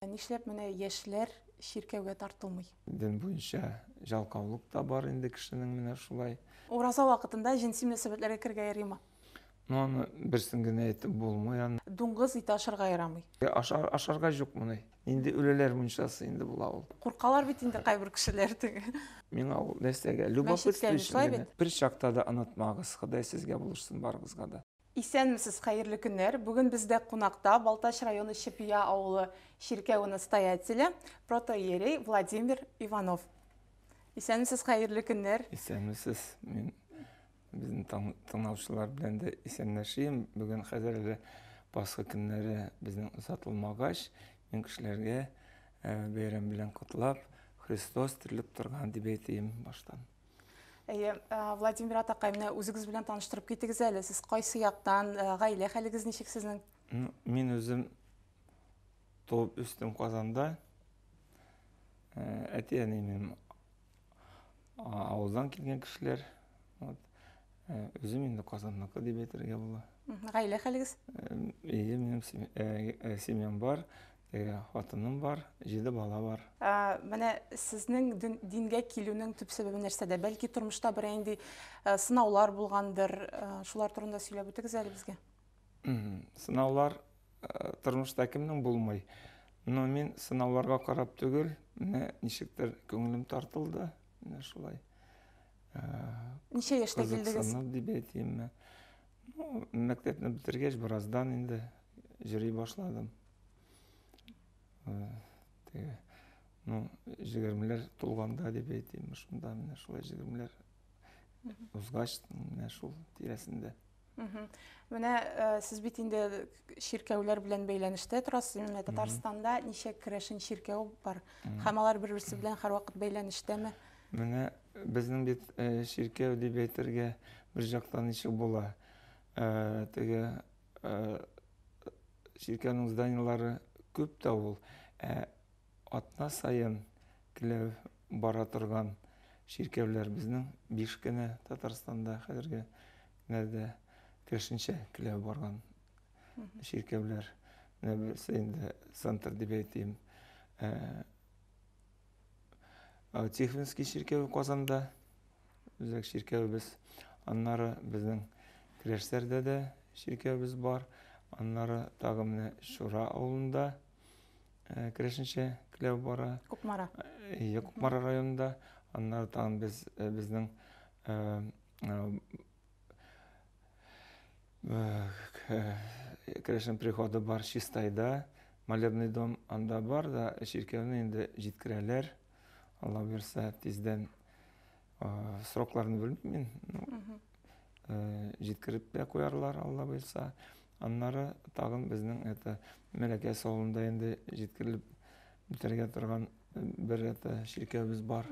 Нишләп менә яшьләр чиркәүгә тартылмый? Дин буенча җалкаулык та бар инде кешенең менә шулай. Ураза вакытында җенси мөнәсәбәтләргә керергә яримы? Ну аны берсен генә әйтеп булмый аны. Дуңгыз ите ашарга ярамый. Ашар, ашарга җук моны. Инде үлеләр мунчасы инде була ул. Куркалар бит инде кайбер кешеләр теге. Миңа ул нәрсәгә, любопытство өчен генә. Бер чакта да онытмагыз, Ходай сезгә булышсын барыгызга да. Исәнмесез, хәерле көннәр! Бүген бездә кунакта Балтач районы Чепия авылы чиркәве настоятеле, протоиерей Владимир Иванов. Исәнмесез, хәерле көннәр! Исәнмесез, мин безнең таң- тыңлаучылар белән дә исәнләшим. Бүген хәзер әле Пасха көннәре безнең озатылмагач, мин кешеләргә э, бәйрәм белән котлап, Христос терелеп торган дип әйтим баштан. Әйе, э, Владимир атакай, менә үзегез белән таныштырып китегез әле. Сез кайсы яктан, э, гаилә хәлегез ничек сезнең? Ну, мин үзем туып үстем Казанда. Э, Әти-әнием авылдан килгән кешеләр. Вот. Э, Үзем инде Казанныкы дип әйтергә була. Мгм. Гаилә хәлегез? Э, Әйе, минем сем- э, э, семьям бар. Әйе, хатыным бар, җиде бала бар. Менә сезнең дингә килүнең төп сәбәбе нәрсәдә? Бәлки тормышта берәр нинди сынаулар булгандыр, шулар турында сөйләп үтегез әле безгә. Сынаулар тормышта кемнең булмый? Но мин сынауларга карап түгел, менә ничектер күңелем тартылды, менә шулай. Ничә яшьтә килдегез? Кызыксынып дип әйтимме. Ну, мәктәпне бетергәч, бераздан инде җыри башладым. Теге, ну, җигермеләр тулганда дип әйтим, шунда менә шулай җигермеләр узгач, менә шул тирәсендә. Менә э, сез бит инде чиркәүләр белән бәйләнештә торасыз. Менә Татарстанда ничә керәшен чиркәү бар? Һәм алар бер-берсе белән һәрвакыт бәйләнештәме? Менә безнең бит чиркәү дип әйтергә бер жактан ничек була. Теге чиркәүнең зданиелары күп тә ул. Ә атна саен килеп бара торган чиркәүләр безнең биш кенә Татарстанда хәзерге нәрдә кершенчә килеп барган чиркәүләр. Менә берсе инде центр дип әйтим. Тихвинский чиркәве Казанда, үзәк чиркәвебез. Аннары безнең Керәшсәрдә дә чиркәвебез бар. Аннары тагы менә Шура авылында э, керәшенчә кләү бара. Кукмара. Э, Кукмара районында. Аннары тагын без э, безнең Э, э, керәшен приходы бар чистайда молебный дом анда бар да чиркәүне инде җиткерәләр алла бирсә тиздән э, срокларын белмим мин җиткереп тә куярлар алла бирсә аннары тагын безнең это мәләкә салонында инде җиткерелеп бетергә торган бер это чиркәүбез бар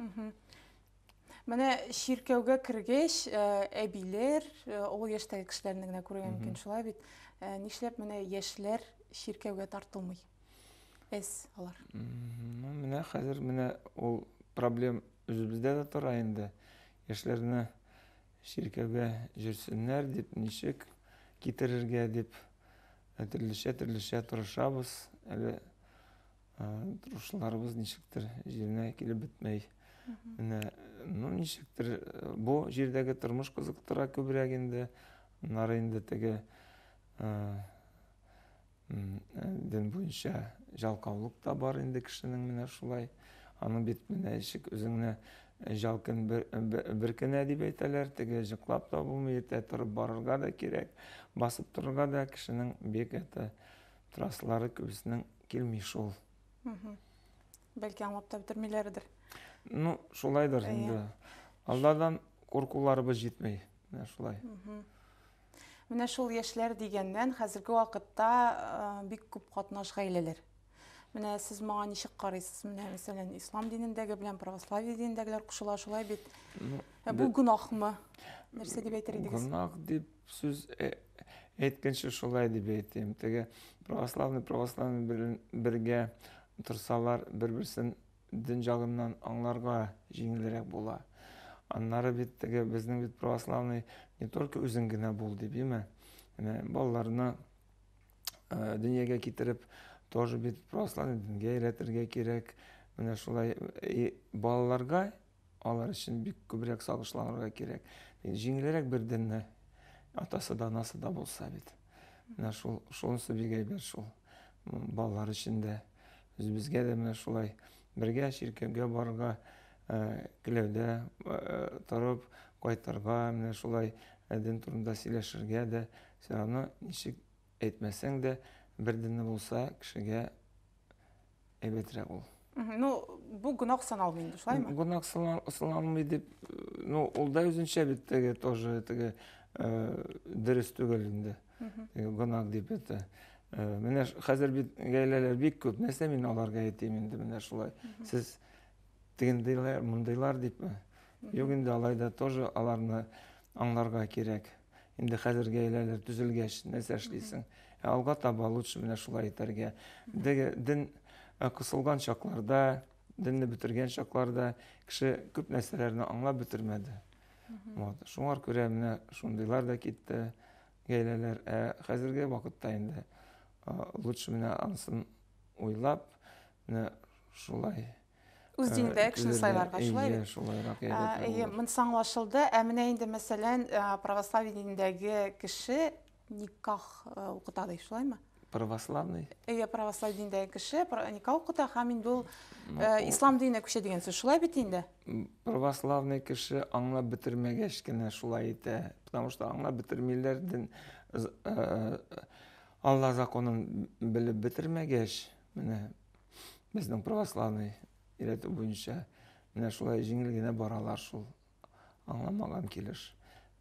Менә чиркәүгә кергәч, э, әбиләр, э, олы яшьтәге кешеләрне генә күрергә мөмкин, шулай бит. Э, нишләп менә яшьләр чиркәүгә тартылмый? Эс алар. Ну, менә хәзер менә ул проблем үзебездә дә тора инде. Яшьләрне чиркәүгә җөрсеннәр дип, ничек китерергә дип, э, төрлечә-төрлечә тырышабыз. Әле Тырышларыбыз ничектер җиренә килеп бетмәй. Менә, ну ничектер бу җирдәге тормыш кызыктыра күбрәк инде. Аннары инде теге дин буенча жалкаулык та бар инде кешенең менә шулай. Аның бит менә ишек үзеңне жалкын бер кенә дип әйтәләр, теге җыклап та булмый, иртә торып барырга да кирәк, басып торырга да кешенең бик әтә траслары күбесенең Килми шул. Бәлки аңлап та бетермиләрдер. Ну, шулайдыр инде. Алладан куркуларыбыз җитми. Менә шулай. Менә шул яшьләр дигәннән хәзерге вакытта бик күп катнаш гаиләләр. Менә сез моңа ничек карыйсыз? Менә мәсәлән, ислам динендәге белән православие динендәгеләр кушыла шулай бит. Ә бу гөнаһмы? Нәрсә дип әйтер идегез? Гөнаһ дип Сүз э, әйткәнче шулай дип әйтим. Теге православный православный бергә торсалар, бер-берсен дин җагыннан аңларга җиңелрәк була. Аннары бит теге безнең бит православный не только үзең генә бул дип, име? Менә балаларны э, дөньяга китереп, тоже бит православный дингә өйрәтергә кирәк. Менә шулай э, балаларга Алар өчен бик күбрәк сагышланырга кирәк. Җиңелрәк бер денне атасы да, анасы да булса бит. Менә шул, шунысы бик әйбәт шул. Балалар өчен дә, үзебезгә дә менә шулай бергә чиркәүгә барырга теләүдә э, э, э, торып кайтырга, менә шулай дин турында сөйләшергә дә, все равно ничек әйтмәсәң дә, бер динне булса кешегә әйбәтрәк ул. Ну, бу гөнаһ саналмый инде, шулаймы? Гөнаһ саналмый дип, ну, ул да үзенчә бит теге тоже теге э, дөрес түгел инде. Гөнаһ дип әйтә. Э, менә хәзер бит гаиләләр бик күп. Нәрсә мин аларга әйтим инде менә шулай. Сез тегендейләр, мондыйлар дипме? Юк инде алай да тоже аларны аңларга кирәк. Инде хәзер гаиләләр төзелгәч, нәрсә эшлисең? Ә алга таба лучше менә шулай итәргә. Дәге дин э, кысылган чакларда, динне бетергән чакларда кеше күп нәрсәләрне аңлап бетермәде. Вот. Шуңар күрә менә шундыйлар да китте гаиләләр. Ә хәзерге вакытта инде э, лучше менә ансын уйлап, менә шулай үз динендә кешене сайларга шулай бит шулайрак әйе монысы аңлашылды ә менә инде мәсәлән православие динендәге кеше никах укыта ди шулаймы православный әйе православие динендәге кеше никах укыта һәм инде ул ислам диненә күчә дигән сүз шулай бит инде православный кеше аңлап бетермәгәч кенә шулай итә потому что аңлап бетермиләр дин алла законын белеп бетермәгәч менә безнең православный өйрәтү буенча менә шулай җиңел генә баралар шул аңламаган килеш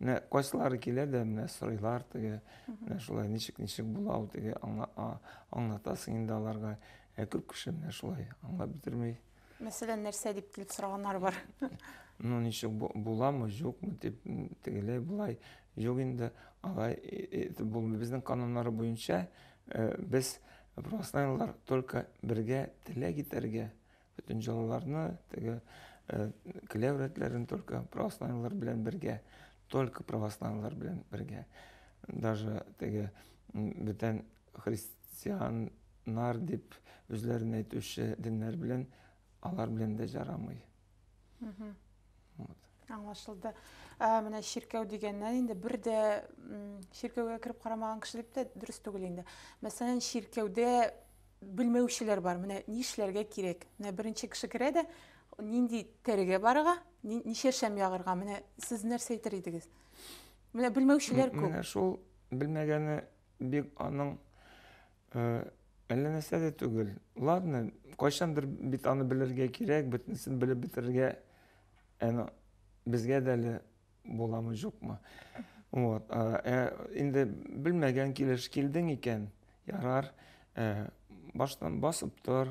менә кайсылары килә дә менә сорыйлар теге менә шулай ничек ничек була ул теге аңлатасың инде аларга ә күп кеше менә шулай аңлап бетермей мәсәлән нәрсә дип килеп сораганнар бар ну ничек буламы юкмы дип тегеләй болай юк инде алай итеп булмый безнең кануннары буенча э, без Проснайлар только бергә теләк итәргә, бөтен җылыларны, теге э, келәү рәтләрен только проснайлар белән бергә, только православнылар белән бергә. Даже теге бүтән христианнар дип үзләрен әйтүче диннәр белән алар белән дә жарамый. Аңлашылды. Ә менә чиркәү дигәннән инде бер дә чиркәүгә кереп карамаган кеше дип тә дөрес түгел инде. Мәсәлән, чиркәүдә белмәүчеләр бар. Менә нишләргә кирәк? Менә беренче кеше керә дә, нинди тәрегә барырга, ничә шәм ягырга? Менә сез нәрсә әйтер идегез? Менә белмәүчеләр күп. Менә шул белмәгәне бик аның Э, әллә нәрсә дә түгел. Ладно, кайчандыр бит аны белергә кирәк, бөтенесен белеп бетерергә әнә безгә дә әле буламы, юкмы. Вот. Э, инде белмәгән килеш килдең икән, ярар, э, баштан басып тор,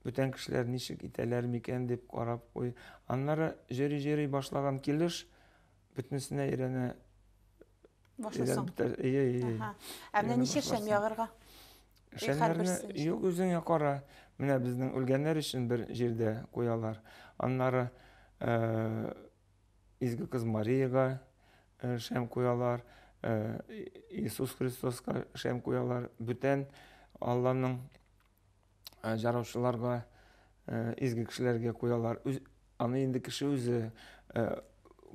бүтән кешеләр ничек итәләр микән дип карап куй. Аннары җөри-җөри башлаган килеш бөтенесенә өйрәнә Башласаң. Ие, ие. Ә менә ничә шәм ягырга? Шәмнәрне юк үзеңә кара. Менә безнең үлгәннәр өчен бер җирдә куялар. Аннары Изге кыз Мариягә шәм куялар, Иисус Христоска шәм куялар. Бүтән Алланың э, жараучыларга, э, изге кешеләргә куялар. Үз, аны инде кеше үзе э,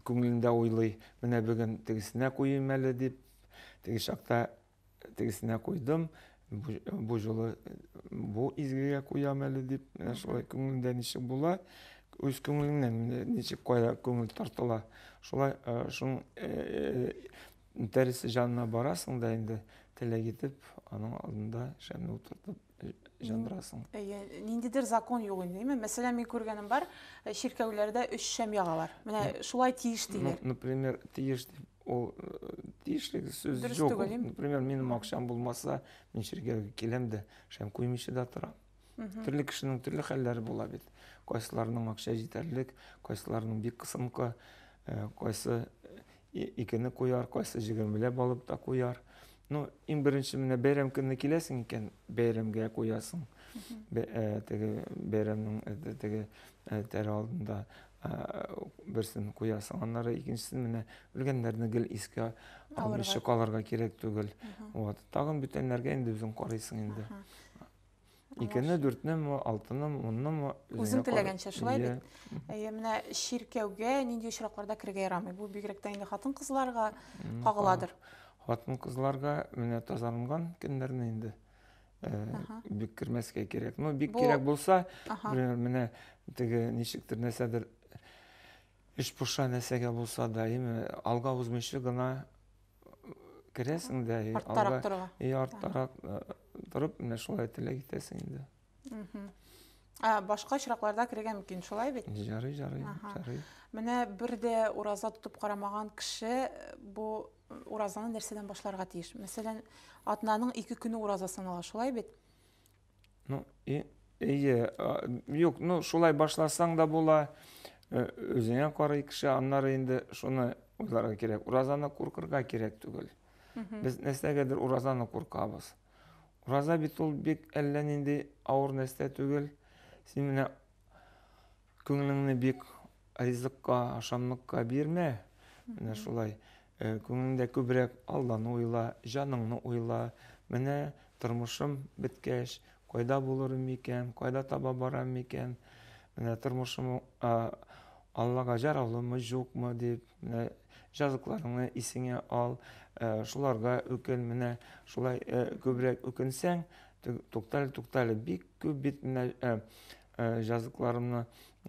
күңелендә уйлый. Менә бүген тегесенә куйым әле дип, теге чакта тегесенә куйдым, бу, бу жолы бу изгегә куям әле дип, менә шулай күңелендә ничек була, үз күңелеңнән ничек кая күңел тартыла. Шулай шуның Үтәресе җанына барасың да инде, теләк итеп, аның алдында шәмне утыртып җандырасың. Әйе, ниндидер закон юк инде, димме? Мәсәлән, мин күргәнем бар, э, чиркәүләрдә өч шәм ягалар. Менә шулай тиеш диләр. Например, тиеш дип, ул э, тиешлек сүз Дөрес юк. түгел, им? Например, минем акчам булмаса, мин чиркәүгә киләм дә, шәм куймыйча да торам. Төрле кешенең төрле хәлләре була бит. Кайсыларның акча җитәрлек, кайсыларның бик кысынкы, э, кайсы икене куяр, кайсы җигермелә балып та куяр. Ну, иң беренче менә бәйрәм көнне киләсең икән, бәйрәмгә куясың. Э, теге бәйрәмнең э, теге э, тәре алдында берсен куясың. Аннары икенчесен менә үлгәннәрне гел искә алмыйча калырга кирәк түгел. Вот. Тагын бүтәннәргә инде үзең карыйсың инде. Икене, дүртне ме, алтыны ме, унны ме? Үзең теләгәнчә, шулай бит. Әйе, менә чиркәүгә нинди очракларда керергә ярамый? Бу бигрәк тә инде хатын-кызларга кагыладыр. Хатын-кызларга менә тазаланган көннәрне инде бик кермәскә кирәк. Ну, бик кирәк булса, менә теге ничектер нәрсәдер эш пуша нәрсәгә булса да, яме алга узмыйча гына керәсең дә и алга торырга и арттарак э, торып менә шулай теләк итәсең инде ә башка очракларда керергә мөмкин шулай бит жарый жарый жарый менә бер дә ураза тотып карамаган кеше э, бу э, уразаны нәрсәдән башларга тиеш мәсәлән атнаның ике көне ураза санала шулай бит Ну, и, ие, юк, ну, шулай башласаң да була, э, өзеңә карай кеше, аннары инде шуны уйларга кирәк. Уразаны куркырга кирәк түгел. Без нәрсәгәдер уразаны куркабыз. Ураза бит ул бик әллә нинди авыр нәрсә түгел. Син менә Күңелеңне бик ризыкка, ашамлыкка бирмә. Менә шулай. Э, күңелеңдә күбрәк Алланы уйла, җаныңны уйла. Менә тормышым беткәч, кайда булырым микән, кайда таба барам микән? Менә тормышым а, Аллага җараулымы, юкмы дип, менә җазыкларыңны исеңә ал, э, шуларга үкен. Менә шулай э, күбрәк үкенсәң, туктале, туктале, бик күп бит менә э, Э, жазыкларымны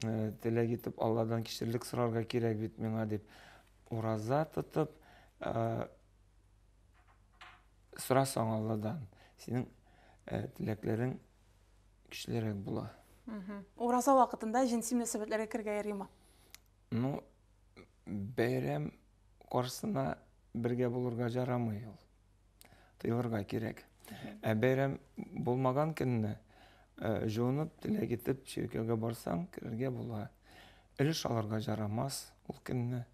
э, теләк итеп алладан кишерлек сорарга кирәк бит миңа дип ураза тотып э, сорасаң алладан синең теләкләрең көчлерәк була ураза вакытында җенси мөнәсәбәтләргә керергә ярыймы ну бәйрәм каршысына бергә булырга жарамый ул Тыйлырга кирәк. Ә бәйрәм булмаган көнне э, җуынып, теләк итеп чиркәүгә барсаң, керергә була. Өлеш алырга жарамас ул көнне.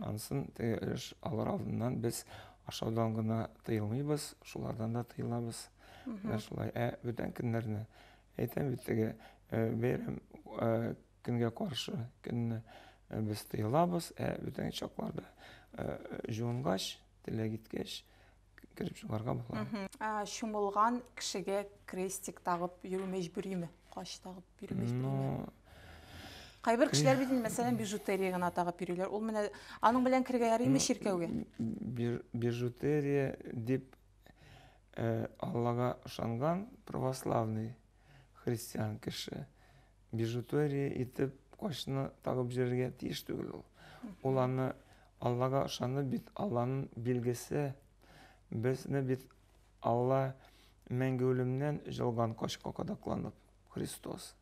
Ансын теге өлеш алыр алдыннан без ашаудан гына тыелмыйбыз, шулардан да тыелабыз. Менә шулай. Ә бүтән көннәрне әйтәм бит теге э, бәйрәм э, көнгә каршы көнне э, без тыелабыз, ә бүтән чакларда э, җуынгач, Теләк иткәч, кереп чыгарга була. Ә чумылган кешегә крестик тагып йөрү мәҗбүриме? Кач тагып йөрү мәҗбүриме? Кайбер кешеләр бит мәсәлән бижутерия гына тагып йөриләр. Ул менә аның белән керергә ярыймы чиркәүгә? Бижутерия дип э, Аллага ышанган православный христиан кеше Бижутерия итеп кочны тагып җөрергә тиеш түгел ул. Ул аны Аллага ышанып бит, Алланың билгесе. Безне бит Алла мәңге үлемнән җылган кочка кадакланып, Христос.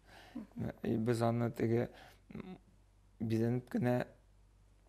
Без аны теге бизәнеп кенә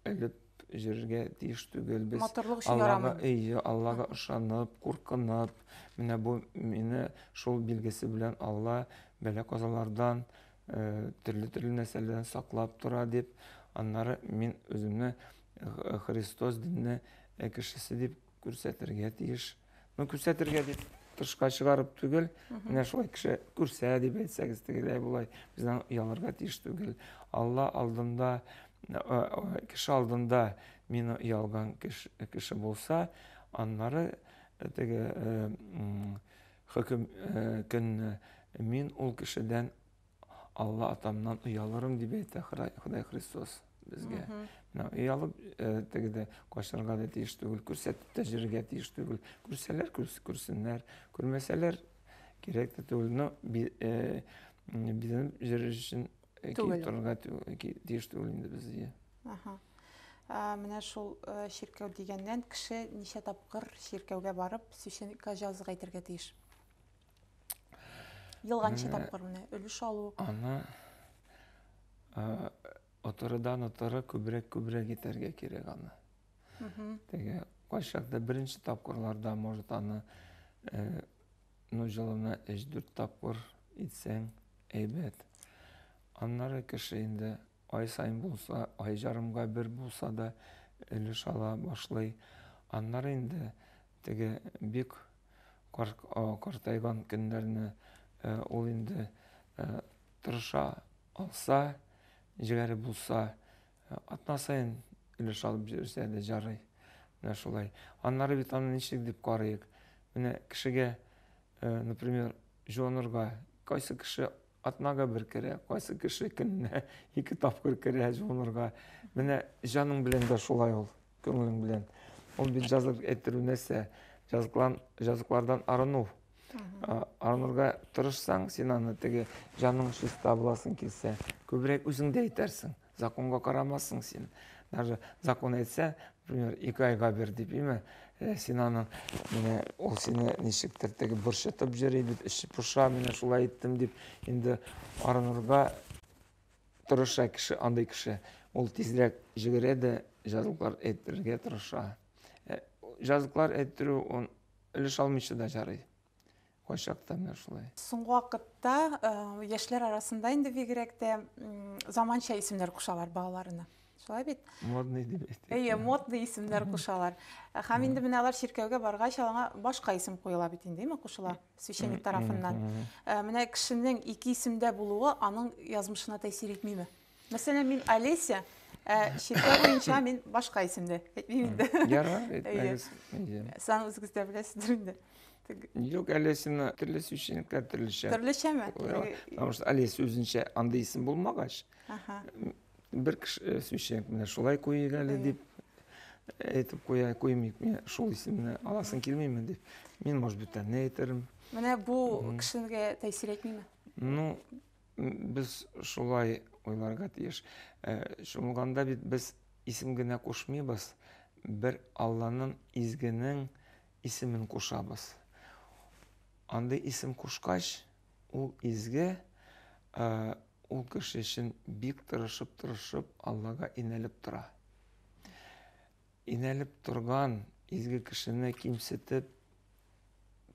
Элеп җөрергә тиеш түгел без. Матурлык өчен Аллага, әйе, Аллага ышанып, куркынып, менә бу мине шул билгесе белән Алла бәлә казалардан, э, төрле төрле нәрсәләрдән саклап тора дип, аннары мин үземне э, Христос динне э, кешесе дип күрсәтергә тиеш. Ну, күрсәтергә дип тышка чыгарып түгел, менә шулай кеше күрсә дип әйтсәгез тегеләй болай, бездән оялырга тиеш түгел. Алла алдында, э, э, кеше алдында мин оялган кеше, кеше булса, аннары э, теге э, м, хөкем э, көнне мин ул кешедән Алла атамнан оялырым дип әйтә Ходай Христос безгә. Менә оялып э, тегеде качарга да тиеш түгел, күрсәтеп тә җиргә тиеш түгел. Күрсәләр күрсеннәр, күрмәсәләр кирәк тә түгел. Но э, бизәнеп җөрер өчен э, киеп торырга тиеш түгел инде без. Аха. Менә шул чиркәү дигәннән кеше ничә тапкыр чиркәүгә барып, священникка җазык әйтергә тиеш? Елганчы тапкыр менә өлеш алу. Аны отырыдан отыры күбрәк күбрәк итәргә кирәк аны. Теге кайчакта беренче тапкырларда может аны э, ну җылына 3-4 тапкыр итсәң әйбәт. Аннары кеше инде ай сайын булса, ай жарымга бер булса да өлеш ала башлый. Аннары инде теге бик картайган көннәрне ул инде тырыша алса, җегәре булса, атна саен өлеш алып йөрсә дә җарый. Менә шулай. Аннары бит аны ничек дип карыйк? Менә кешегә, например, җуанырга кайсы кеше Атнага бер керә, кайсы кеше көненә ике тапкыр керә җуынырга. Менә җаның белән дә шулай ул, күңелең белән. Ул бит җазык әйттерү нәрсә? Җазыклан, җазыклардан арыну. Арынырга тырышсаң, син аны теге җаның чиста буласын килсә, күбрәк үзеңдә әйтәрсең. Законга карамассың син. Даже закон әйтсә, например, ике айга бир дип, име? Э, син аны, менә ул сине ничектер теге борчытып йөри бит, эче поша, менә шулай иттем дип, инде арынырга тырыша кеше, андый кеше. Ул тизрәк җигерә дә җазлыклар әйтергә тырыша. Э, җазлыклар әйттерү, он өлеш алмыйча да жарый. Кайчакта менә шулай. Соңгы вакытта яшьләр арасында инде бигрәк тә заманча исемнәр кушалар балаларына. Шулай бит? Модный дип әйтик. Әйе, модный исемнәр кушалар. Һәм инде менә алар чиркәүгә баргач, аңа башка исем куела бит инде, әйме, кушыла священник тарафыннан. Менә кешенең ике исемдә булуы аның язмышына тәэсир итмиме? Мәсәлән, мин Олеся, ә чиркәү буенча мин башка исемдә. Әйтмим инде. Яра, әйтмәгез. Сан үзегездә беләсездер инде. Юк, Олесина төрле сүзчелекләр төрлечә. Төрлечәме? Потому что Олес үзенчә андый исем булмагач. Аха. Бер кеше э, сүзченик менә шулай куйыйк әле дип әйтеп куя, куймыйк. Мин шул исемне аласың килмиме дип. Мин, может, бүтәнне әйтермен. Менә бу кешегә тәэсир итмиме? Ну, Без шулай уйларга тиеш. Э, Чумганда бит без исем генә кушмыйбыз, бер Алланың изгенең исемен кушабыз. Андый исем кушкач, ул изге, э, ул кеше өчен бик тырышып-тырышып Аллага инәлеп тора. Инәлеп торган изге кешене кимсетеп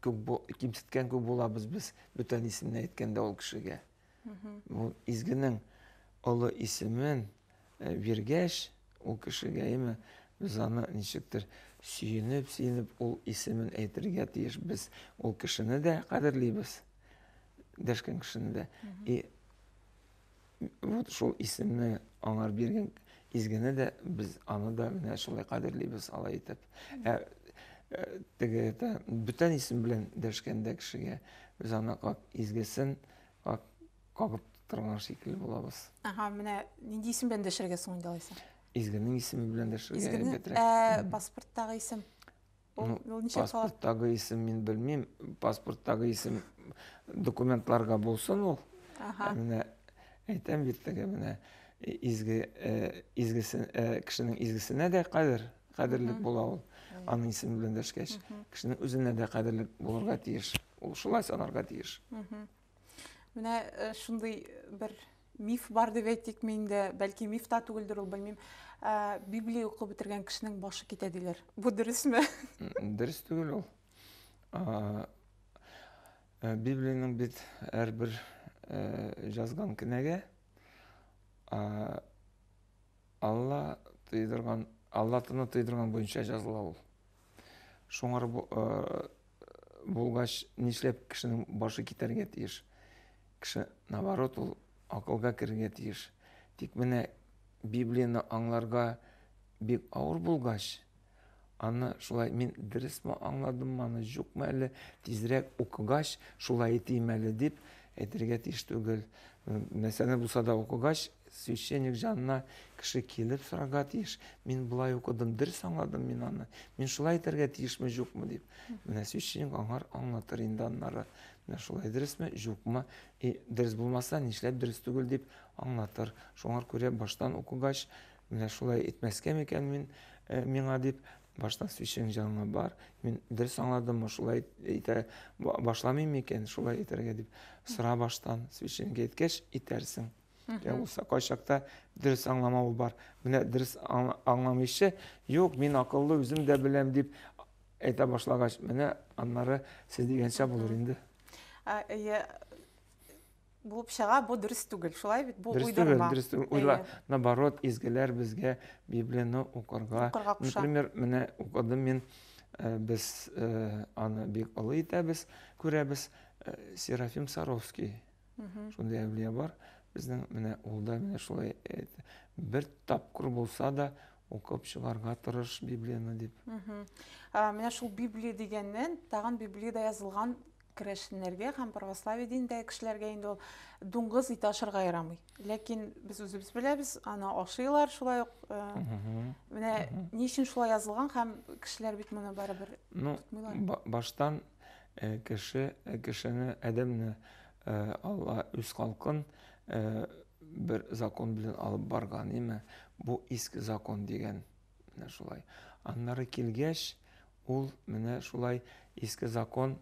күп кимсеткән күп булабыз без бүтән исемне әйткәндә ул кешегә. Бу изгенең олы исемен э, биргәч ул кешегә име без аны ничектер сөенеп, сөенеп ул исемен әйтергә тиеш. Без ул кешене дә кадерлибез. Дәшкән кешене дә. И вот шул исемне аңар биргән изгене дә без аны да менә шулай кадерлибез алай итеп ә, ә, теге это бүтән исем белән дәшкәндә кешегә без аны как изгесен как кагып торган шикелле булабыз ага менә нинди исем белән дәшергә соң инде алайса изгенең исеме белән дәшергә изгенең ә, паспорттагы исем Ул, ну, ул ничек кала? Паспорттагы исем мин белмим. Паспорттагы исем документларга булсын ул. Ага. Менә әйтәм бит теге менә изге э, изгесе э, кешенең изгесенә дә кадер кадерлек була ул аның исеме белән дәшкәч кешенең үзенә дә кадерлек булырга тиеш ул шулай санарга тиеш Менә э, шундый бер миф бар дип әйтикме инде, бәлки миф та түгелдер ул, белмим. Э, Библия укып бетергән кешенең башы китә диләр. Бу дөресме? Дөрес түгел ул. Э, Библиянең бит һәрбер язган кенәгә Алла тыйдырган, Алла тыны тыйдырган буенча языла ул. Шуңар булгач, нишләп кешенең башы китәргә тиеш? Кеше, наоборот, ул акылга керергә тиеш. Тик менә Библияне аңларга бик авыр булгач, аны шулай мин дөресме аңладыммы, аны юкмы әле, тизрәк укыгач, шулай итим әле дип, Әйтергә тиеш түгел. Мәсьәлә булса да укыгач, священник җанына кеше килеп сорарга тиеш. Мин болай укыдым, дөрес аңладым мин аны. Мин шулай әйтергә тиешме, юкмы дип. Менә священник аңар аңлатыр инде аннары. Менә шулай дөресме, юкмы? И дөрес булмаса, нишләп дөрес түгел дип аңлатыр. Шуңар күрә баштан укыгач, Менә шулай итмәскә микән мин э, миңа дип, башта сүчең җанга бар. Мин дөрес аңладыммы, шулай итә башламыйм микән, шулай итәргә дип сора баштан, сүчеңгә иткәч итәрсең. Ә булса кайчакта дөрес аңламау бар. Менә дөрес аңламыйчы, юк, мин акыллы үзем дә беләм дип әйтә башлагач, менә аннары сез дигәнчә булыр инде. Ә, булып чыга, бу дөрес түгел. Шулай бит, бу уйдырма. Дөрес түгел, уйла. Наоборот, изгеләр безгә Библияны укырга. Укырга куша. Например, менә укыдым мин, э, без э, аны бик олы итәбез, күрәбез. Э, Серафим Саровский. Шундый әвлия бар. Безнең менә ул да менә шулай бер тапкыр булса да укып чыгарга тырыш Библияны дип. Менә шул Библия дигәннән, тагын Библиядә язылган Керәшеннәргә һәм православие динендәге кешеләргә инде ул дуңгыз ите ашарга ярамый. Ләкин без үзебез беләбез, аны ашыйлар шулай ук. Э, менә ни өчен шулай язылган һәм кешеләр бит моны барыбер ну, тотмыйлар. Баштан э, кеше э, кешене адәмне Алла үз халкын бер закон белән алып барган, яме бу иске закон дигән Менә шулай. Аннары килгәч, ул менә шулай иске закон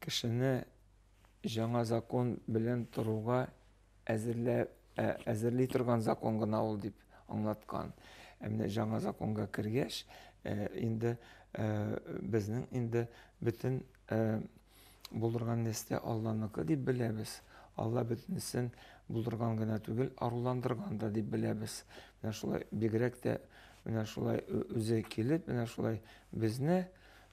кешене жаңа закон белән торуга әзерлә, ә, әзерли торган закон гына ул дип аңлаткан. Ә менә жаңа законга кергәч, э, инде э, безнең инде бөтен э, Булдырган нәрсә Алланыкы дип беләбез. Алла бөтенесен булдырган гына түгел, аруландырган да дип беләбез. Менә шулай бигрәк тә менә шулай үзе килеп, менә шулай безне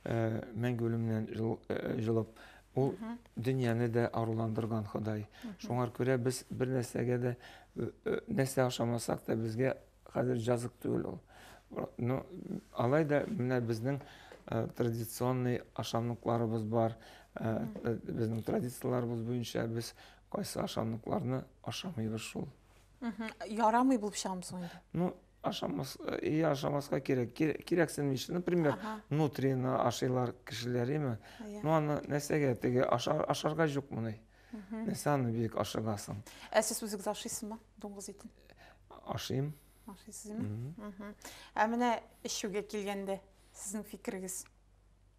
э, мәңге үлемнән э, җылып, ул дөньяны да аруландырган Ходай. Шуңар күрә без бер нәрсәгә дә э, нәрсә ашамасак та безгә Хәзер җазык түгел ул. Ну, алай да менә безнең э, традиционный ашамлыкларыбыз бар. Э, э, безнең традицияләребез буенча без кайсы ашамлыкларны ашамыйбыз шул. Ярамый булып чыгамы соң инде? Ну, ашамас, и ашамаска кирәк. Кирәксен миш. Например, нутрины ашыйлар кешеләр, име? Ну, аны нәрсәгә теге ашарга юк моны. Нәрсә аны бик ашыгасың? Ә сез үзегез ашыйсызмы дуңгыз итен? Ашыйм. Ашыйсызмы? Угу. Ә менә эчүгә килгәндә, сезнең фикерегез?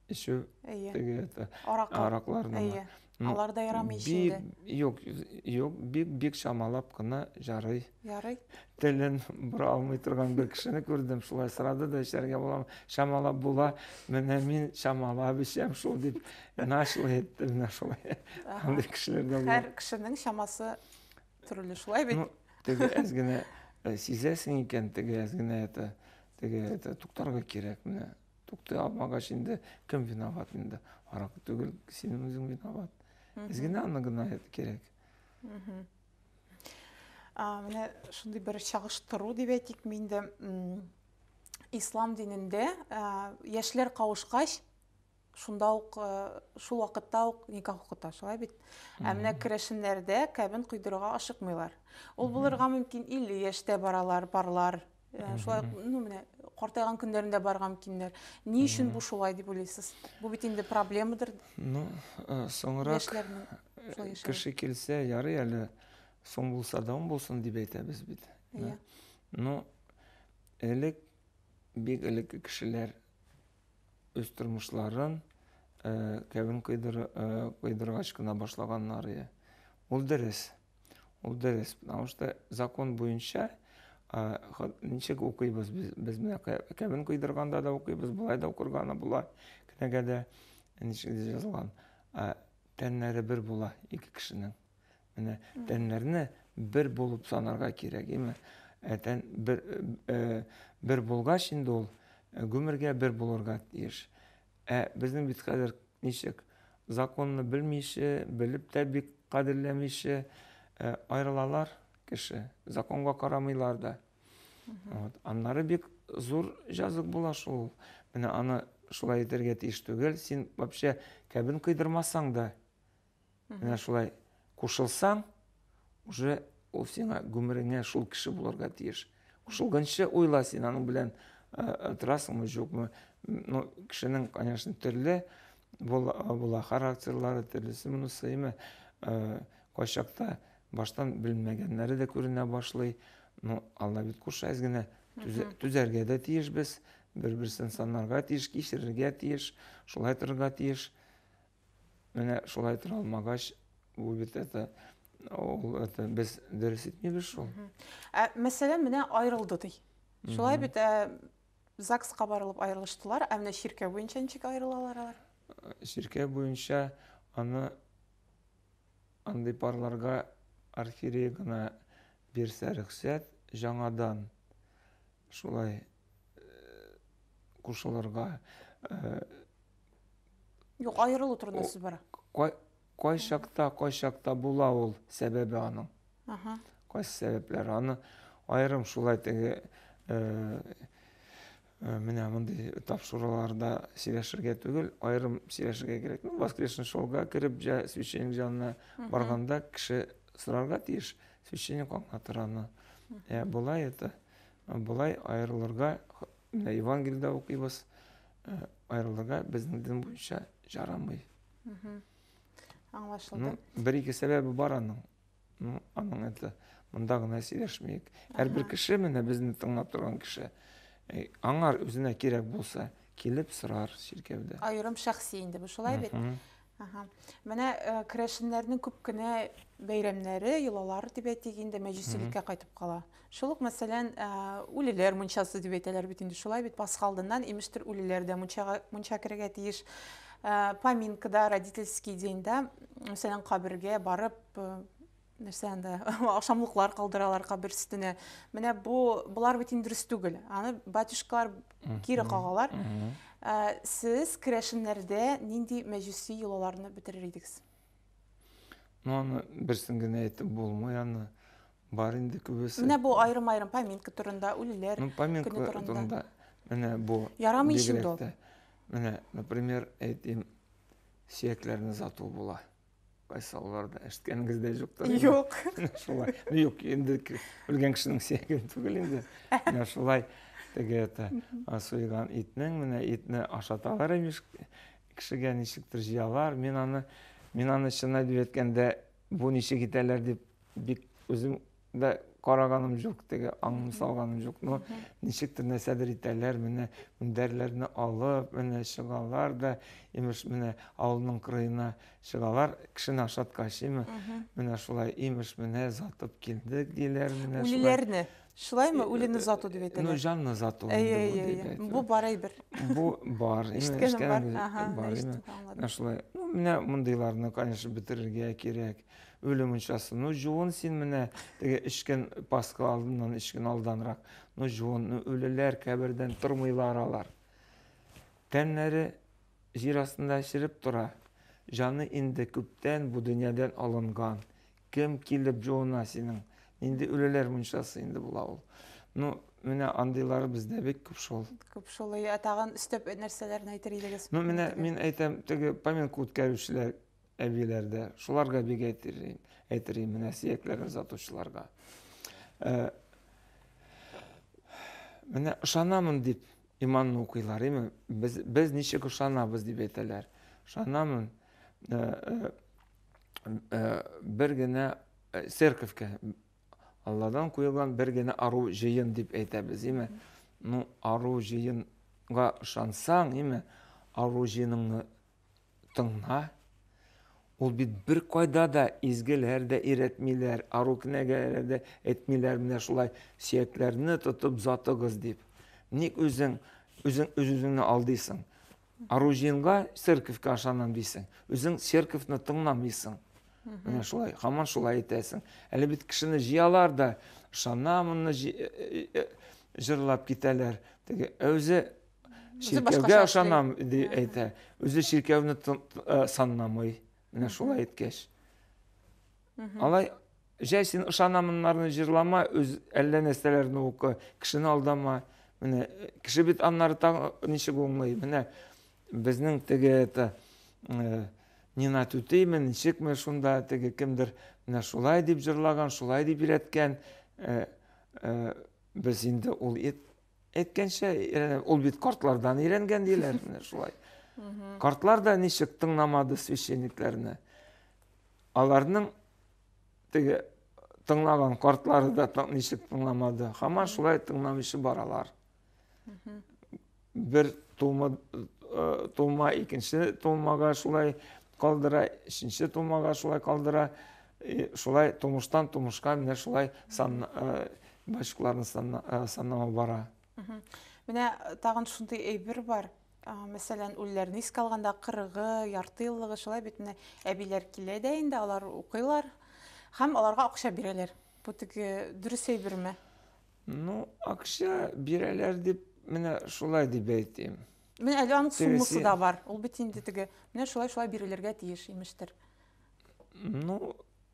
Эчү? Әйе. Теге это аракларны. Әйе. Алар да ярамый ичендә. Юк, юк, бик бик чамалап кына ярый. Ярый. Телен бора алмый торган бер кешене күрдем, шулай сорады да эчәргә буламы? Чамалап була. Менә мин чамалап эчәм шул дип нашлы әйтте менә шулай. Андый кешеләр дә бар. Һәр кешенең чамасы Төрле шулай бит. Ну, теге әз генә э, сизәсең икән, теге әз генә это, теге это туктарга кирәк менә. Тукты алмагач инде кем виноват инде? Арак түгел, син үзең виноват. Әз генә аны гына кирәк. А, менә шундый бер чагыштыру дип әйтик минде. Ислам динендә яшьләр кавышкач Шунда ук, э, шул вакытта ук никах укыта, шулай бит. Ә менә керәшеннәрдә кәбен койдырырга ашыкмыйлар. Ул булырга мөмкин 50 яшьтә баралар, парлар. Э, шулай, ну, менә картайган көннәрендә барырга мөмкиннәр. Ни өчен бу шулай дип уйлыйсыз? Бу бит инде проблемадыр. Ну, э, соңрак яшьләрнең шулай яшәве. кеше килсә, ярый әле соң булса да он булсын дип әйтәбез бит. Иә. Ну, элек бик элекке кешеләр үз тормышларын э, кәвен кыйдыр, э, кыйдыргач кына башлаганнары ул дөрес ул дөрес потому что закон буенча ничек укыйбыз без без менә кәвен кыйдырганда да укыйбыз болай да укырганы була кенәгәдә ничек язылган тәннәре бер була ике кешенең Менә тәннәрне бер булып санарга кирәк, име? Ә тән бер, э, бер булгач инде ул э, гомергә бер булырга тиеш. Ә безнең бит хәзер ничек? Законны белмичә, белеп тә бик кадерләмичә э, аерылалар кеше. Законга карамыйлар да. Вот. Аннары бик зур җазык була шул. Менә аны шулай итәргә тиеш түгел. Син вообще кәбен кыйдырмасаң да, Менә шулай кушылсаң, уже ул сиңа гомереңә шул кеше булырга тиеш. Кушылганчы уйла син аның белән э, э, торасыңмы, юкмы. Ну, кешенең, конечно, төрле була, була характерлары, төрлесе моны сыймы. Э, кайчакта баштан белмәгәннәре дә күренә башлый. Ну, Алла бит куша әз генә түзәргә дә тиеш без, бер-берсен санарга тиеш, кичерергә тиеш, шулай торырга тиеш. Менә шулай тора алмагач, бу бит это ул это без дөрес итмибез шул. Ә мәсәлән, менә аерылды ди. Шулай бит ә, ЗАГСка барылып аерылыштылар, ә менә чиркәү буенча ничек аерылалар алар? Чиркәү буенча аны андый парларга архиерей гына бирсә рөхсәт жаңадан шулай э, кушылырга э, Юк, аерылу турында сүз бара. Кай, кай чакта, кай чакта була ул сәбәбе аның. Ага. Кайсы сәбәпләр аны аерым шулай теге э, э, менә мондый тапшыруларда сөйләшергә түгел, аерым сөйләшергә кирәк. Ну, воскрешен шолга кереп, җа, священник җанына барганда кеше сорарга тиеш, священник аңлатыр аны. Ә, болай это, болай аерылырга Менә Евангелиедә укыйбыз, э, аерылырга безнең дин буенча жарамый. Аңлашылды. Ну, бер ике сәбәбе бар аның. Ну, аның это монда гына сөйләшмик. Һәрбер кеше менә безне тыңлап торган кеше э, аңар үзенә кирәк булса, килеп сорар чиркәүдә. Аерым шәхси инде бу шулай бит. Ага. Менә э, керәшеннәрнең күп кенә бәйрәмнәре, йолалары дип әйтик инде мәҗүсилеккә кайтып кала. Шул ук мәсәлән, э, үлеләр мунчасы дип әйтәләр бит инде шулай бит Пасха алдыннан имештер үлеләр дә мунчага мунча керергә тиеш. Э, Поминкада, родительский деньда, мәсәлән, кабергә барып э, нәрсә анда ашамлыклар калдыралар кабер өстенә менә бу болар бит инде дөрес түгел аны батюшкалар кире кагалар ә, сез керәшеннәрдә нинди мәҗүси йолаларны бетерер идегез ну аны берсен генә әйтеп булмый аны бар инде күбесе менә бу аерым аерым поминка турында үлеләр ну, поминка турында менә бу ярамый инде ул менә например әйтим сөякләрне зату була Кайсы аларда әшткәнегез дә юктыр. Юк. Шулай. Ну юк, инде үлгән кешенең сөяге түгел инде. Менә шулай теге это суйган итнең менә итне ашаталар имеш кешегә ничектер җыялар. Мин аны мин аны чынлап әйткәндә бу ничек итәләр дип бик үзем да караганым жоқ теге аңын салганым жоқ но ничектер нәрсәдер итәләр менә мендәрләрне алып менә чыгалар да имеш менә авылның кырыена чыгалар кешене ашатка ашыймы менә шулай имеш менә затып килдек диләр менә үлеләрне шулаймы үлене зату дип әйтәләр ну жанны зату әйе әйе бу бар әйбер бу бар ишеткәнем бар бар менә шулай ну менә мондыйларны конечно бетерергә кирәк Үле мунчасы. Ну, җуын син менә теге эчкән Пасха алдыннан эчкән алданрак. Ну, җуын, ну, үлеләр кабердән тормыйлар алар. Тәннәре җир астында череп тора. Җаны инде күптән бу дөньядан алынган. Кем килеп җуына синең? Нинди үлеләр мунчасы инде була ул. Ну, менә андыйлары бездә бик күп шул. Күп шул. Ә тагын өстәп нәрсәләрне әйтер идегез? Ну, менә мин әйтәм, теге поминка үткәрүчеләр әбиләр дә, шуларга бик әйтерлим, әйтерлим менә сөякләрен озатучыларга. Э, менә ышанамын дип иманны укыйлар, име? Без, без ничек ышанабыз дип әйтәләр. Ышанамын, э, э, бер генә церковька Алладан куелган бер генә ару җыен дип әйтәбез, име? Ну, ару җыенга ышансаң, име? Ару җыеныңны тыңла. Ул бит бер кайда да изгеләр дә иретмиләр, ару кенәгәләр дә әйтмиләр менә шулай сөякләрне тотып затыгыз дип. Ник үзең үзең үз-үзеңне алдыйсың? Аружинга церковька ашанам дисең. Үзең церковьны тыңламыйсың. Менә шулай, хаман шулай әйтәсең. Әле бит кешене җыялар да, шанамынны э, э, э, җырлап китәләр. Теге, ә үзе чиркәүгә ышанам дип әйтә үзе чиркәүне санламый менә шулай әйткәч алай җәй син ышанамыннарны җырлама үз әллә нәрсәләрне укы кешене алдама менә кеше бит аннары тагы ничек уңлый менә безнең теге это нина түтейме ничекме шунда теге кемдер менә шулай дип җырлаган шулай дип өйрәткән без инде ул Әйткәнчә, э, ул бит картлардан өйрәнгән диләр, менә шулай. Картлар да ничек тыңламады священникләрне. Аларның теге тыңлаган картлары да ничек тыңламады. Хаман шулай тыңламыйчы баралар. Бер тума э, тума икенче тумага шулай калдыра, өченче тумага шулай калдыра. И шулай тумыштан тумышка менә шулай сан мальчикларны саннама бара. Менә тагын шундый әйбер бар. Мәсәлән, үлләрне искә алганда 40-ы, ярты еллыгы шулай бит менә әбиләр килә дә инде, алар укыйлар һәм аларга акча бирәләр. Бу теге дөрес әйберме? Ну, акча бирәләр дип менә шулай дип әйтим. Менә әле аның суммасы да бар. Ул бит инде теге менә шулай-шулай бирелергә тиеш имештер. Ну,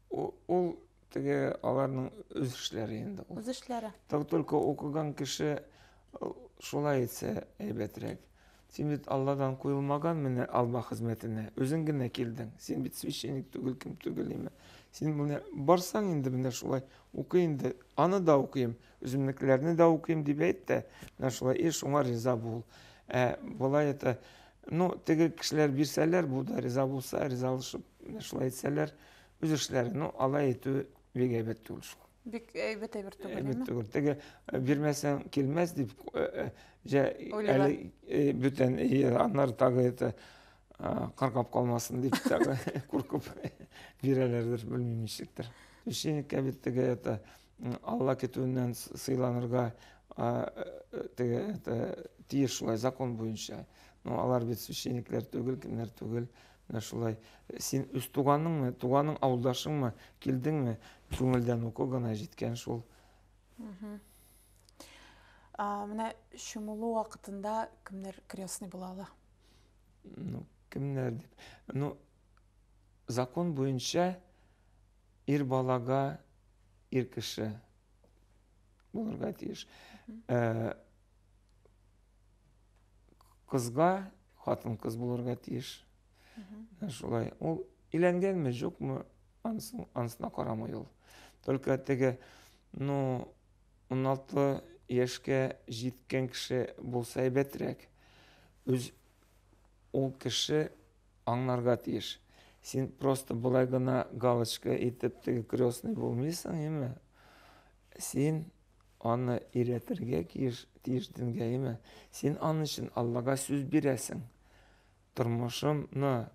ул теге аларның үз эшләре инде. Үз эшләре. Так только укыган кеше э, шулай итсә әйбәтрәк. Син бит Алладан куелмаган менә алба хезмәтенә. Үзең генә килдең. Син бит священник түгел, кем түгел име. Син менә барсаң инде менә шулай укы инде. Аны да укыйм, Үземнекеләрне дә укыйм дип әйт тә, менә шулай ир, шуңа риза бул. Ә болай это, ну, теге кешеләр бирсәләр, бу да риза булса, ризалышып, менә шулай әйтсәләр, үз эшләре, ну, алай әйтү бик әйбәт түгел шул. Бик әйбәт әйбер түгел, әйбәт әйме? түгел. Теге э, бирмәсәң килмәс дип, э, э, җә Уйлыйлар. әле э, бүтән, и, аннары тагы это а, каргап калмасын дип тагы куркып бирәләрдер, белмим ничектер. Священникка бит теге это Алла көтүеннән сыйланырга теге тиеш шулай закон буенча. Но ну, алар бит священниклар түгел, кемнәр түгел. Менә шулай. Син үз туганыңмы, туганың авылдашыңмы, килдеңме, күңелдән уку гына җиткән шул. Менә чумылу вакытында кемнәр крестный була ала? Ну, кемнәр дип. Ну, закон буенча Ир балага ир кеше булырга тиеш. Э, кызга хатын кыз булырга тиеш. Ә шулай. Ул өйләнгәнме, юкмы, ансын, ансына карамый ул. Только теге, ну, 16 яшькә җиткән кеше булса әйбәтрәк. Үз ул кеше аңларга тиеш. Син просто болай гына галочка итеп теге крестный булмыйсың, име? Син аны иретергә тиеш, тиеш дингә, име? Син аны өчен Аллага сүз бирәсең. Тормышымны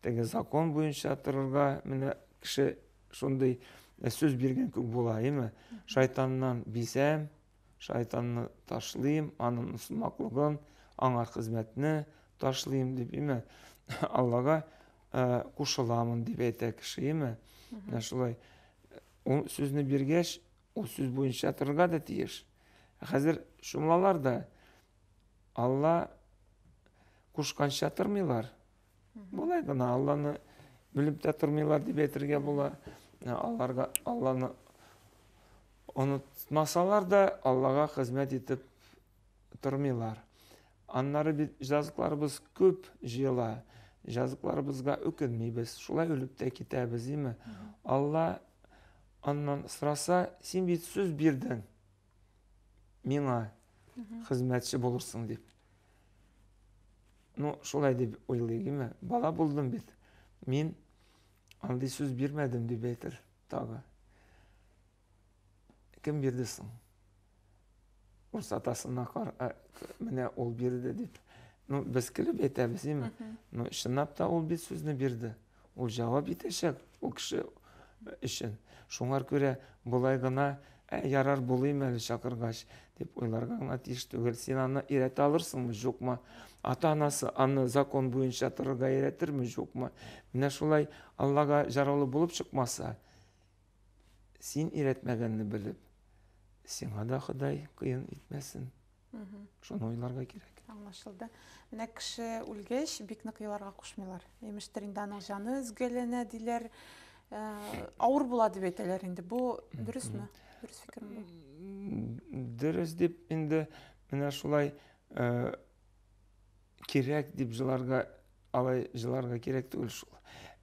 теге закон буенча торырга менә кеше шундый сүз биргән күк була, име? Шайтаннан бисәм, Шайтанны ташлыйм, анын усмаклыгын, аңа хезмәтне ташлыйм дип, име, Аллага кушыламын дип әйтә кеше, име. Менә шулай. Ул сүзне биргәч, ул сүз буенча торырга да тиеш. Хәзер шумлалар да Алла кушканча тормыйлар. Болай гына Алланы белеп тә тормыйлар дип әйтергә була. Ә аларга Алланы онытмасалар да Аллага хезмәт итеп тормыйлар. Аннары бит җазыкларыбыз күп җыела. Җазыкларыбызга үкенмибез, шулай үлеп тә китәбез, димме? Алла аннан сораса, син бит сүз бирдең миңа хезмәтче булырсың дип. Ну, шулай дип уйлыйгыйме? Бала булдым бит. Мин андый сүз бирмәдем дип әйтер тагы. Кем бирде соң? Урыс атасына кар, менә ул бирде дип. Ну, без көлеп әйтәбез, име? Ну, чынлап та ул бит сүзне бирде. Ул җавап итәчәк ул кеше өчен. Шуңар күрә болай гына, ә ярар булыйм әле чакыргач, дип уйларга гына тиеш түгел. Син аны өйрәтә алырсыңмы, юкмы? Ата-анасы аны закон буенча торырга өйрәтерме, юкмы? Менә шулай Аллага җараулы булып чыкмаса, син өйрәтмәгәнне белеп, сиңа да Ходай кыен итмәсен. Шуны уйларга кирәк. Аңлашылды. Менә кеше үлгәч, бик нык еларга кушмыйлар. Имештер инде аның җаны өзгәләнә диләр. Э, авыр була дип әйтәләр инде. Бу дөресме? Дөрес фикерме бу? Дөрес дип инде менә шулай э, кирәк дип җыларга алай җыларга кирәк түгел шул.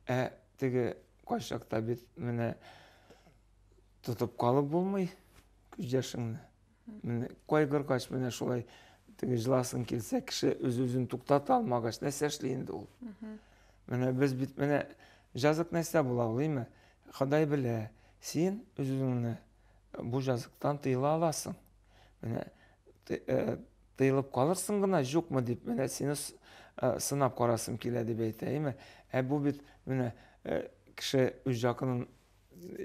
Ә теге кайчакта бит менә тотып калып булмый күз яшеңне. кайгыргач менә шулай теге жыласың килсә кеше үз үзен туктата алмагач нәрсә эшли инде ул менә без бит менә жазык нәрсә була ул име ходай белә син үз үзеңне бу жазыктан тыела аласың менә э, тыелып калырсың гына юкмы дип менә сине э, сынап карасым килә дип әйтә име ә бу бит менә э, кеше үз жакынын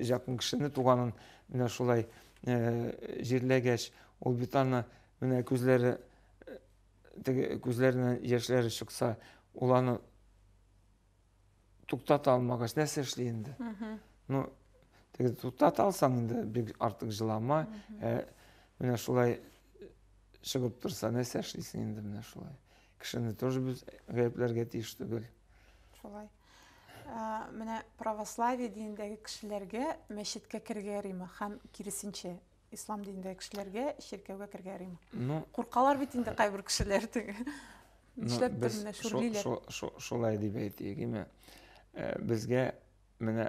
Якын кешене, туганын менә шулай җирләгәч, ул бит аны менә күзләре теге күзләреннән яшьләре чыкса, ул аны туктата алмагач, нәрсә эшли инде? Ну, теге туктата алсаң инде, бик артык җылама, ә менә шулай чыгып торса, нәрсә эшлисең инде менә шулай? Кешене тоже без гаепләргә тиеш түгел. Шулай. Ә, менә православие динендәге кешеләргә мәчеткә керергә яримы һәм киресенчә ислам динендәге кешеләргә чиркәүгә керергә яримы? Ну, Куркалар бит инде кайбер кешеләр теге. Ну, Нишләп без берне шо- шүрлиләр? шо- шо- шулай дип әйтик име Э, безгә менә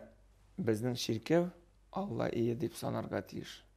безнең чиркәү алла ие дип санарга тиеш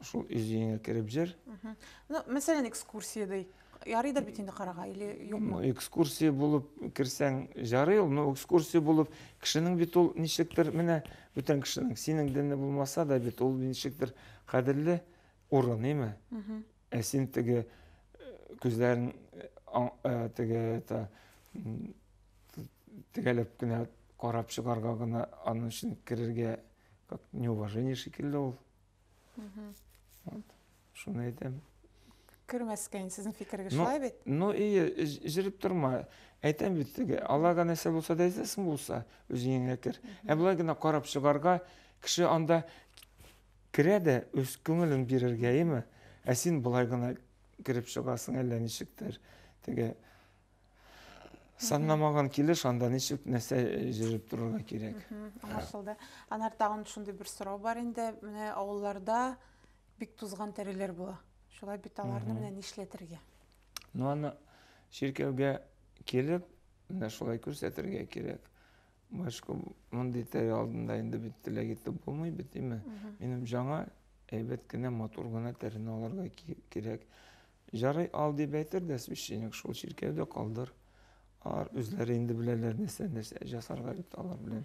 Шул үз өеңә кереп җыр. Ну, мәсәлән, экскурсия дый. Ярыйдыр бит инде карага или юкмы? Экскурсия булып керсәң ярый ул, но экскурсия булып кешенең бит ул ничектер менә бүтән кешенең синең динне булмаса да бит ул ничектер кадерле урын, име? Ә син теге күзләрен теге это тегәлеп кенә карап чыгарга гына аның өчен керергә как неуважение шикелле ул. Шуны әйтәм. Кермәскә инде сезнең фикергә шулай бит? Ну и җиреп торма. Әйтәм бит теге, Аллага нәрсә булса да әйтәсең булса, үзеңә кер. Ә болай гына карап чыгарга, кеше анда керә дә үз күңелен бирергә, яме? Ә син болай гына кереп чыгасың әллә ничектер. Теге Санламаган килеш анда ничек нәрсә җыеп торырга кирәк. Аңлашылды. Анар тагын шундый бер сорау бар инде. Менә авылларда бик тузган тәреләр була. Шулай бит аларны менә нишләтергә? Ну аны чиркәүгә килеп, менә шулай күрсәтергә кирәк. Башка мондый тәре алдында инде бит теләк итеп булмый бит, димме? Минем жаңа әйбәт кенә, матур гына тәрене алырга кирәк. Җарый ал дип әйтер дә священник, шул чиркәүдә калдыр. Ар үзләре инде беләләр нәрсә нәрсә жасарга бит алар белән.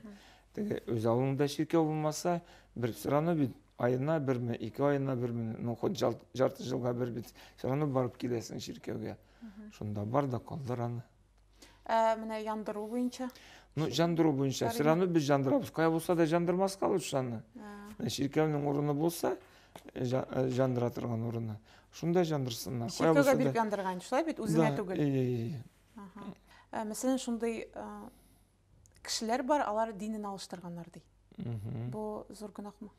Теге үз авылыңда чиркәү булмаса, бер сорану бит айына берме, ике айына берме, ну хоть жарты җылга бер бит сорану барып киләсең чиркәүгә. Шунда бар да калдыр аны. Ә менә яндыру буенча? Ну, җандыру буенча. Чыраны без җандырабыз. Кая булса да җандырмаска ул чыраны. Чиркәүнең урыны булса, җандыра торган урыны. Шунда җандырсыннар. Чиркәүгә биреп яндырган, шулай бит, үзенә түгел. Ә мәсәлән, шундый кешеләр бар, алар динен алыштырганнар ди. Бу зур гөнаһмы?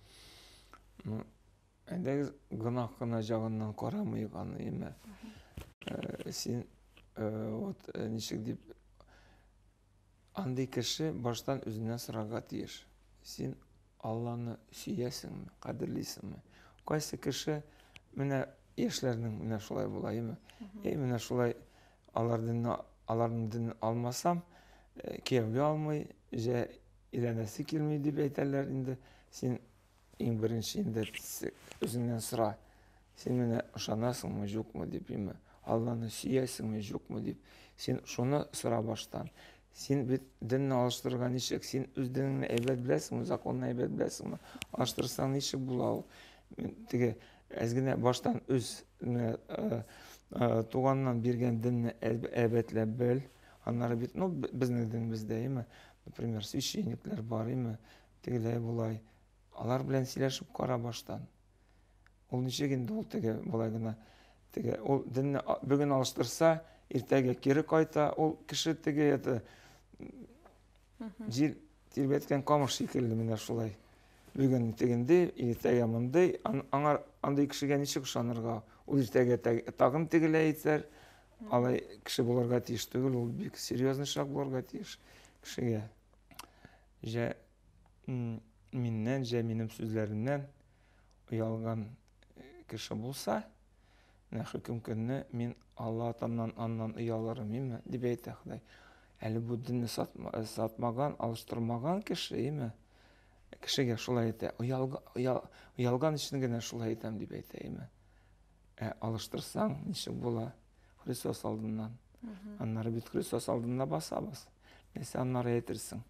Әйдәгез, гөнаһ кына җагыннан карамыйк аны, әмма э, син э, вот э, ничек дип андый кеше баштан үзеннән сорарга тиеш. Син Алланы сөясеңме, кадерлисеңме? Кайсы кеше менә яшьләрнең менә шулай була, әйме? Әй, менә шулай алардан аларның динен алмасам, кияүгә алмый, җә иләнәсе килми дип әйтәләр инде. Син Иң беренче инде үзеңнән сора, син менә ышанасыңмы, юкмы дип, яме, Алланы сөясеңме, юкмы дип, син шуны сора баштан. Син бит динне алыштырырга ничек? Син үз динеңне әйбәт беләсеңме, законны әйбәт беләсеңме? Алыштырсаң ничек була ул? Теге әз генә баштан үз э, э, туганнан биргән динне әйбәтләп бел. Аннары бит, ну, безнең динебездә, яме, например, священниклар бар, яме, Тегеләй болай алар белән сөйләшеп кара баштан. Ул ничек инде ул теге болай гына теге ул динне бүген алыштырса, иртәгә кире кайта, ул кеше теге это җил тирбәткән камыш шикелле менә шулай. Бүген тегенде, иртәгә мондый, аңар андый кешегә ничек ышанырга? Ул иртәгә тагын тегеләй итәр. Алай кеше булырга тиеш түгел, ул бик серьезный шаг булырга тиеш кешегә. Җә миннән, җә минем сүзләремнән оялган кеше булса, менә хөкем көнне мин Алла атамнан аннан оялырым, име, дип әйтә Ходай. Әле бу динне сатмаган, алыштырмаган кеше, име, кешегә шулай әйтә, оялган өчен генә шулай әйтәм дип әйтә, име. Ә алыштырсаң, ничек була? Христос алдыннан. Аннары бит Христос алдында басабыз. Нәрсә аннары әйтерсең?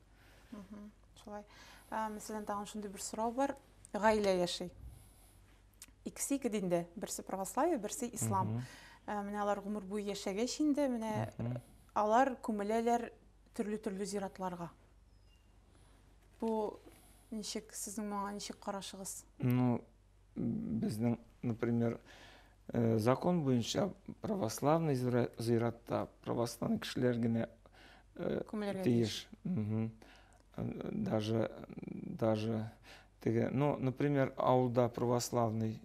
Шулай. Мәсәлән, тагын шундый бер сорау бар. Гаилә яши. Икесе ике динде. Берсе православие, берсе ислам. Ә, менә алар гомер буе яшәгәч инде, менә алар күмеләләр төрле-төрле зиратларга. Бу ничек сезнең моңа ничек карашыгыз? Ну, безнең, например, э, закон буенча православный зыйратта православный кешеләр генә э, тиеш. Даже даже теге, ну, например, авылда православный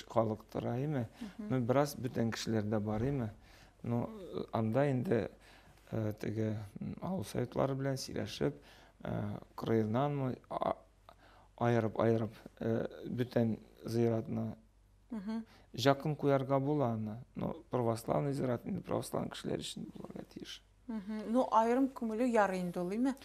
халык тора, име? Ну, бераз бүтән кешеләр дә бар, име? Ну, анда инде э, теге авыл советлары белән сөйләшеп, краевнанмы аерып-аерып бүтән зыйратны жакын куярга була аны но православный зират инде православный кешеләр өчен булырга тиеш ну аерым күмелү ярый инде ул име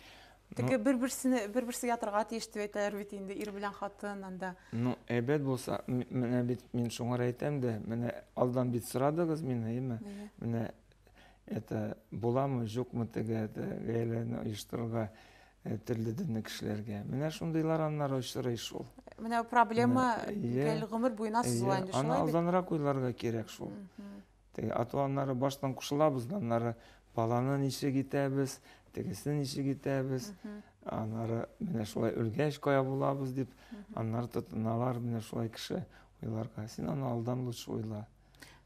теге бер берсене бер берсе ятырга тиеш дип әйтәләр бит инде ир белән хатын анда ну әйбәт булса менә бит мин шуңар әйтәм дә менә алдан бит сорадыгыз мине име менә это буламы жукмы теге гаиләне оештырырга Ә төрле дөнне кешеләргә. Менә шундыйлар аннары очрый шул. Менә проблема гел гомер буена сызыла инде шулай бит. Аны алданрак уйларга кирәк шул. Теге ату аннары баштан кушылабыз, аннары баланы ничек итәбез, тегесне ничек итәбез, аннары менә шулай үлгәч кая булабыз дип, аннары тотыналар менә шулай кеше уйларга. Син аны алдан лучше уйла.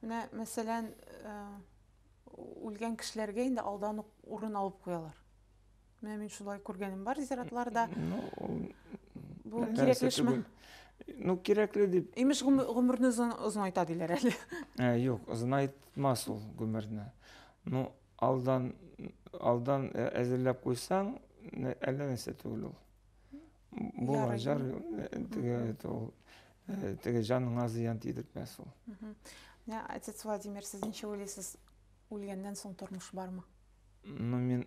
Менә мәсәлән, үлгән кешеләргә инде алдан ук урын алып куялар. Менә мин шулай күргәнем бар зиратларда. Ну, Бу нәрсә кирәкле эшме? түгел. Ну, кирәкле дип. Имеш гомер- гомерне озын- озынайта диләр әле. Ә, юк, озынайтмас ул гомерне. Ну, алдан, алдан ә- әзерләп куйсаң, нә- әллә нәрсә түгел ул. Була, Ярый. җар, э, теге, это ул, э, теге җаныңа зыян тидертмәс ул. Мгм. Менә отец Владимир, сез ничә уйлыйсыз, үлгәннән соң тормыш бармы? Ну, мин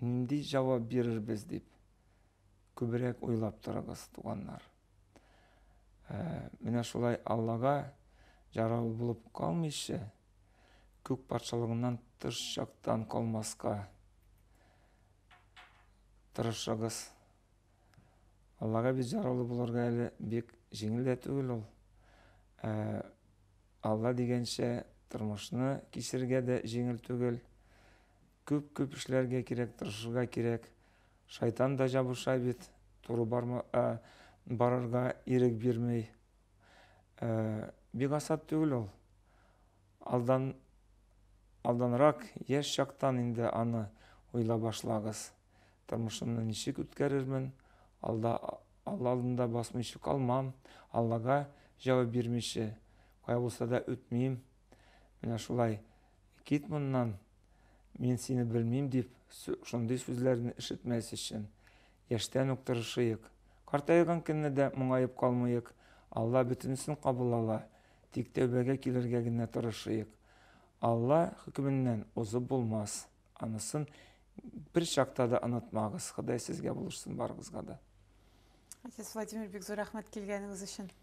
нинди җавап бирербез дип күбрәк уйлап торыгыз, туганнар. Ә, менә шулай Аллага җарау булып калмыйча, күк патшалыгыннан тыш чактан калмаска тырышыгыз. Аллага без җаралы булырга әле бик җиңел дә түгел ул. Ә, Алла дигәнчә тормышны кисергә дә җиңел түгел. Күп күп эшләргә кирәк тырышырга кирәк шайтан да җабыша бит туры барма ә барырга ирек бирми ә бик асат түгел ул алдан алданрак яшь чактан инде аны уйла башлагыз тормышымны ничек үткәрермен алда алла алдында басмыйчы калмам аллага җавап бирмиче кая булса да үтмим Менә шулай, кит моннан, мин сине белмим, дип, шундый сүзләрне ишетмәс өчен, яшьтән үк тырышыйк. Картайган көнне дә моңаеп калмыйк, Алла бөтенесен кабул ала, тик тәүбәгә килергә генә тырышыйк. Алла хөкеменнән узып булмас. Анысын бер чакта да онытмагыз. Ходай сезгә булышсын барыгызга да. Әтәс Владимир бик зур рәхмәт килгәнегез өчен.